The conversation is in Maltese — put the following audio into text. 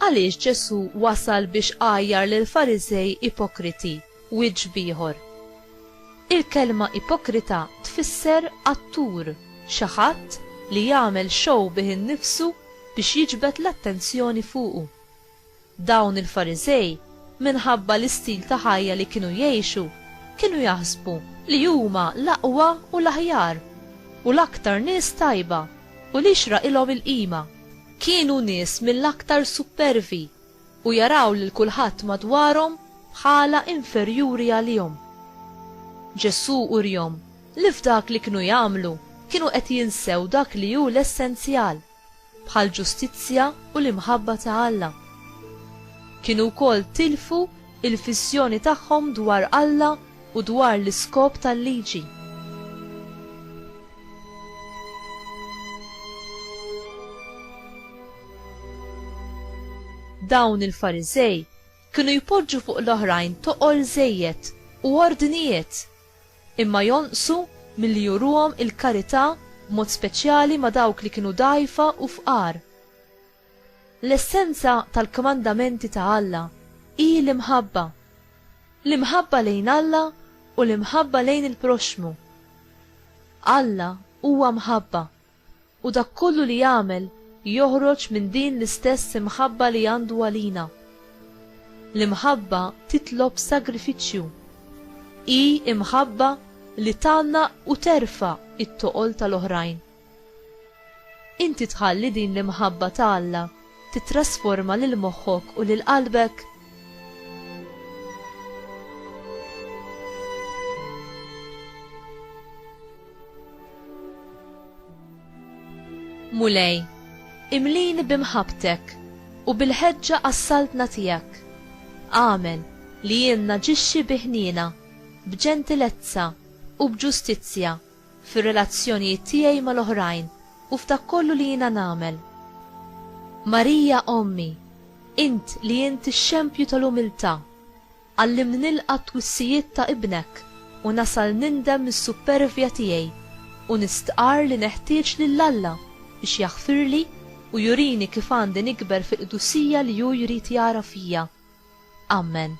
Għaliex Ġesu wasal biex għajjar lil Farizej ipokriti, wiġġ bieħor? Il-kelma ipokrita tfisser attur, xi ħadd li jagħmel show bih innifsu biex jiġbed l-attenzjoni fuqu. Dawn il-Fariżej, minħabba l-istil ta' ħajja li kienu jgħixu, kienu jaħsbu li huma l-aqwa u l-aħjar, u l-aktar nies tajba, u li jxraqilhom il-qima. Kienu nies mill-aktar suppervi, u jaraw lil kulħadd madwarhom bħala inferjuri għalihom. Ġesù urihom li f'dak li kienu jagħmlu kienu qed jinsew dak li hu l-essenzjal. bħall-ġustizzja u l-imħabba ta' Alla. Kienu wkoll tilfu l-fissjoni tagħhom dwar Alla u dwar l-iskop tal-liġi. Dawn il-Fariżej kienu jpoġġu fuq l-oħrajn toqol żejjed u ordnijiet Imma jonqsu milli juruhom il-karità b'mod speċjali ma' dawk li kienu dgħajfa u fqar. L-essenza tal-kmandamenti ta' Alla hi l-imħabba. L-imħabba lejn Alla u l-imħabba lejn il-proxxmu. Alla huwa mħabba. U dak kollu li jagħmel joħroġ minn din l-istess imħabba li għandu għalina. L-imħabba titlob sagrifiċċju. Hi imħabba li tgħannaq u terfa' t-toqol tal-oħrajn. Inti tħalli din l-imħabba ta' Alla tittrasforma lil moħħok u lil qalbek? Mulej, imlini b'imħabbtek u bil-ħeġġa għas-Saltna tiegħek. Agħmel li jien naġixxi bi ħniena, b'ġentilezza u b'ġustizzja fir-relazzjonijiet tiegħi mal-oħrajn u f'dak kollu li jiena nagħmel. Marija Ommi, int li int ix-xempju tal-umiltà, Għallimni nilqa' t-twissijiet ta' Ibnek u nasal nindem mis-suppervja tiegħi u nistqarr li neħtieġ lil Alla biex jaħfirli u jurini kif għandi nikber fil-qdusija li hu jrid jara fija. Amen.